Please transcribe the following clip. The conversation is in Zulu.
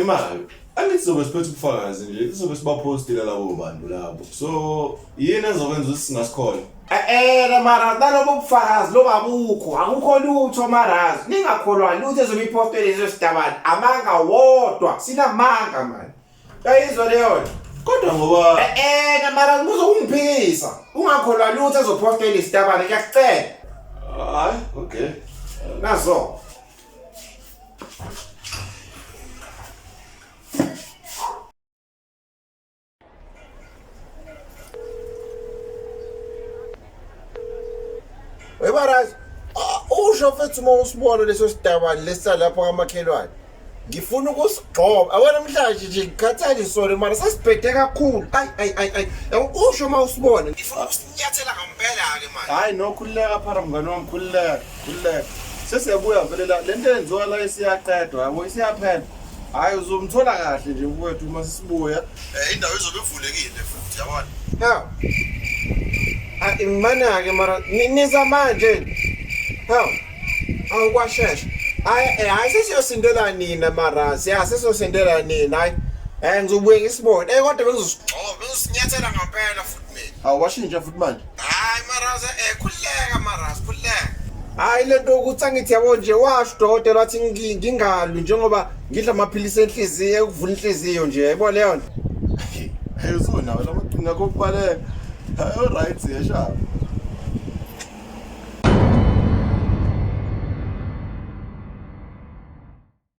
Imali. Angithi sobe siphethe ubufakazi nje, sobe sibapostile labo bantu labo. So, yini ezokwenza ukuthi singasikholwa? Eh, eh mara nalobo bufakazi loba bukho, akukho lutho mara. Ningakholwa lutho ezobe ipostile lezo sidabani. Amanga wodwa, sinamanga manje. Yayizwa leyo nto. Kodwa ngoba Eh, eh na mara ngibuza ukungiphikisa. Ungakholwa lutho ezopostile isitabani, ngiyacela. hayi, okay. Nazo. Webarazi usho mfethu uma usibona leso sidabani lesalapho kamakhelwane ngifuna ukusigxoba awena mhlanje nje ngikhathalisole mara sasibhede kakhulu ayi ayi ayi ayi usho uma usibona ngifuna Nyathela ngampela ke manje. Hayi no khululeka phara mngane wami khululeka khululeka. Sesiyabuya vele la lento enziwa la isiyaqedwa yabo isiyaphela. Hayi uzomthola kahle nje kwethu uma sisibuya. Eh indawo izobe ivulekile futhi yabona. Ha. Ah imana ke mara niza manje. Ha. Awu kwashesha. Hayi eh, hayi sesiyosindela nina mara siya sesiyosindela nina hayi. Eh ngizobuye ngisibone. Eh kodwa bengizosigcoba bengisinyathela ngampela futhi. awashintsha futhi manje hayi maraza eh khuleka maraza khuleka hayi lento ukuthi angithi yabo nje washo udokotela wathi ngi- ngingalwi njengoba ngidla amaphilisi enhliziyo ekuvula inhliziyo nje yayibona leyo nto ayizona nawe lamaqhinga kokubaleka hayi right yeshaba